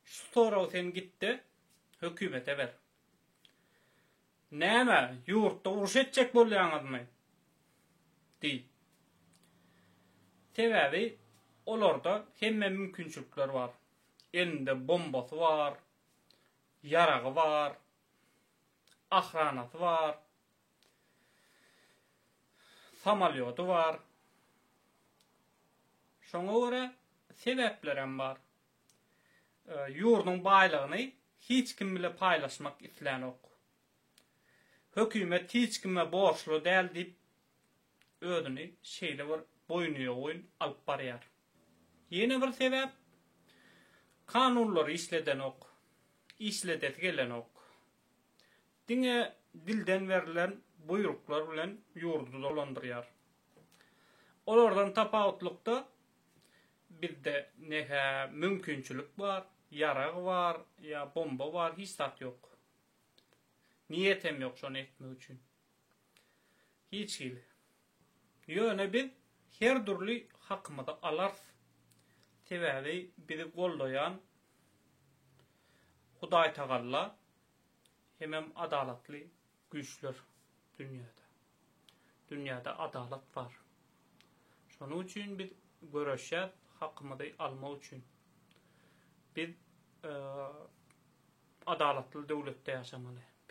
Şu soragy sen gitde hökümete ber. Näme, ýurtda uruş etjek bolýaňyzmy? diý. Sebäbi olarda hemme mümkinçilikler bar. Elinde bombasy bar, ýaragy bar, ahranasy bar, Samalýody bar. Şoňa görä sebäplerem bar. Ýurduň baýlygyny hiç kim bile paýlaşmak islänok. Hökümet hiç kime borçly däl diýip özüni şeýle bir boýnuýogyn alyp barýar. Ýene bir sebäp, kanunlary işledenok. Işledesi gelenok. Diňe dilden berlen buýruklar bilen ýurdy dolandyrýar. Olardan tapawutlykda, bizde ne-hä mümkinçilik bar, ýarag bar ýa bomba bar, hiç zat ýok. Niýetem ýok şony etmek üçin. Hiç hili. Ýöne biz her dürli hakymyzy alarys. Sebäbi bizi goldaýan Hudaýtagalla hemem adalatly güýçler dünýäde. Dünýäde adalat bar. Şonuň üçin biz göreşýäs hakymyzy almak üçin. Biz adalatly döwletde ýaşamaly.